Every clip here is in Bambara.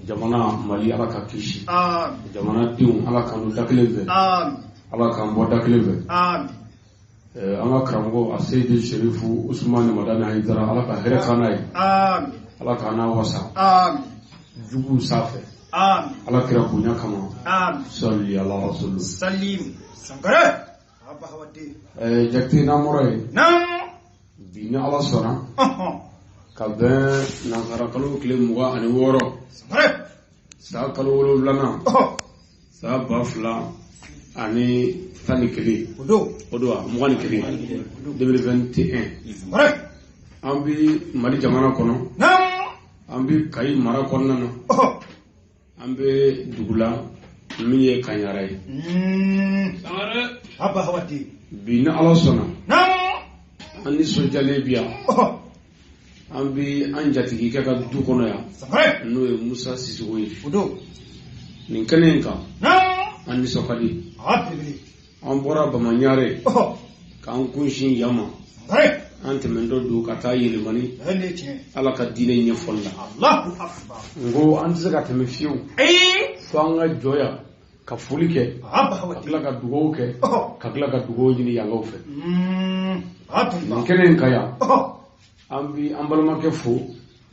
jamana mali ala ka kisi jamana denw ala k'an don da kelen fɛ ala k'an bɔ da kelen fɛ eh, an ka karamɔgɔ a seyidu serifu usumani madani ayidara ala ka hɛrɛ k'an n'a ye ala k'an n'a wasa juguw sanfɛ ala kira bonya kama sali ala rasulu salim sankara jate namɔrɔ ye bi ni ala sɔnna ka bɛn nansara kalo tile mugan ani wɔɔrɔ san kalo wolonwulanan san ba fila ani tan ni kelen o don wa mugan ni kelen deux mille vingt et un an bi mali jamana kɔnɔ an bi kayi mara kɔnɔna na an bɛ dugu la min ye kaɲara ye bi ni ala sɔnna an nisɔndiyalen bi yan an bɛ an jatigikɛ ka du kɔnɔ yan n'o ye musa sisoko ye nin kɛnɛ in kan an nisɔn ka di an bɔra bamaɲarɛ k'an kunsin yan ma an tɛmɛntɔ don ka taa yɛlɛmani ala ka diinɛ ɲɛfɔli la n ko an tɛ se ka tɛmɛ fiyewu fo an ka jɔ yan ka foli kɛ ka tila ka dugawu kɛ ka tila ka dugawu ɲini yankaw fɛ mm, nin kɛnɛ in kan yan an bi an balimakɛ fo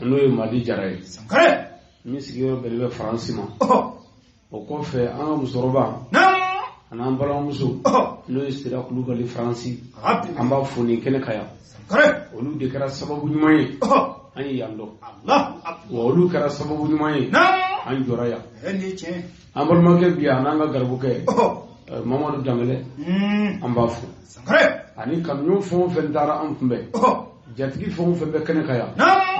n'o ye madi jara ye min sigiyɔrɔ bɛnnen bɛ faransi ma o kɔfɛ an ka musokɔrɔba an'an balimamuso n'o ye sira kulubali faransi an b'a fo nin kɛnɛ kan yan olu de kɛra sababu ɲuman ye an ye yan dɔn wa olu kɛra sababu ɲuman ye an jɔra yan an balimakɛ bi yan an'an ka garibukɛ eh, mamadu danbɛlɛ hmm. an b'a fo ani kanuɲɔgɔn fɛn o fɛn taara an kunbɛn jatigi fɛn o fɛn bɛ kɛnɛ kan yan